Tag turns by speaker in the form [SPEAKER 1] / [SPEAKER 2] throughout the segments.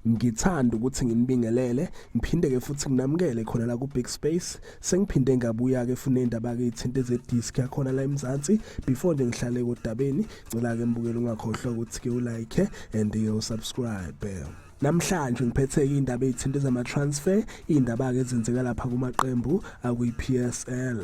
[SPEAKER 1] ngithanda ukuthi nginibingelele ngiphinde ke futhi nginamukele khona la ku Big Space sengiphinde ngabuya ke funa indaba ke ithinta ze disc yakhona la eMzansi before nje ngihlale kodabeni ngicela ke mbukele ungakhohlwa ukuthi ke u like and you subscribe Namhlanje ngiphetheke indaba ezithinta zama-transfer, iy'ndaba-ke ezenzeka lapha kumaqembu akwi-PSL.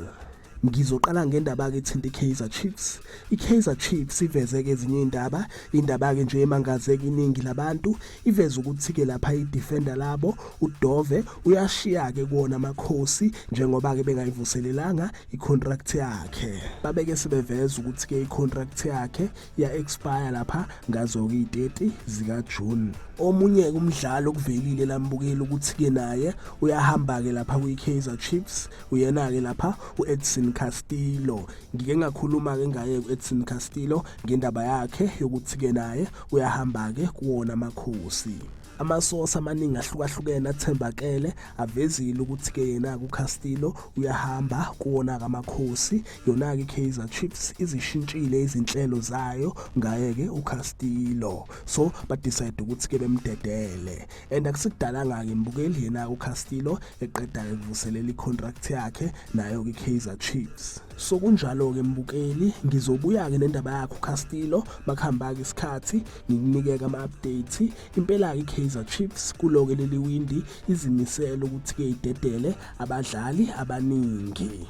[SPEAKER 1] Ngizoqala ngendaba-ke ethinta i-Kaizer Chiefs. I-Kaizer Chiefs iveze-ke ezinye iy'ndaba, indaba-ke nje emangazeka iningi labantu, iveze ukuthi-ke lapha i-defender labo uDove uyashiya-ke kuwona amakhosi njengoba-ke bengayivuselelanga i-contract yakhe. Babeke sebeveza ukuthi-ke i-contract yakhe ya expire lapha ngazo kwi-30 zika June omunye umdlalo kuvelile lambukeli ukuthi ke naye uyahamba ke lapha kwi-Kaizer Chiefs uyena ke lapha u-Edson Castillo ngike ngakhuluma ke ngaye u-Edson Castillo ngendaba yakhe yokuthi ke naye uyahamba ke kuwona amakhosi amasosi amaningi ahlukahlukene athembakele avezile ukuthi-ke yena kucastillo uyahamba kuwona kamakhosi Yona-ke iKaizer Chiefs izishintshile izinhlelo zayo ngaye-ke uCastillo. So badecide ukuthi-ke bemdedele. And akusikudalanga-ke mbukeli yena uCastillo eqeda evuselela icontract yakhe nayo-ke iKaizer Chiefs. So kunjalo-ke mbukeli ngizobuya-ke nendaba yakho uCastillo makuhamba-ke isikhathi ngikunike-ke ama-update. Impela-ke iKaizer Chiefs kulo-ke leli windi izimisele ukuthi-ke idedele abadlali abaningi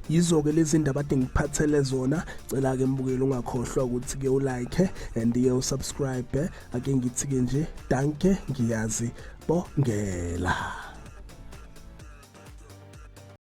[SPEAKER 1] yizo-ke lezi ndaba ade ngiphathele zona cela-ke mbukeli ungakhohlwa ukuthi-ke ulike and-ke usubscribe ake ngithi-ke nje danke ngiyazi bongela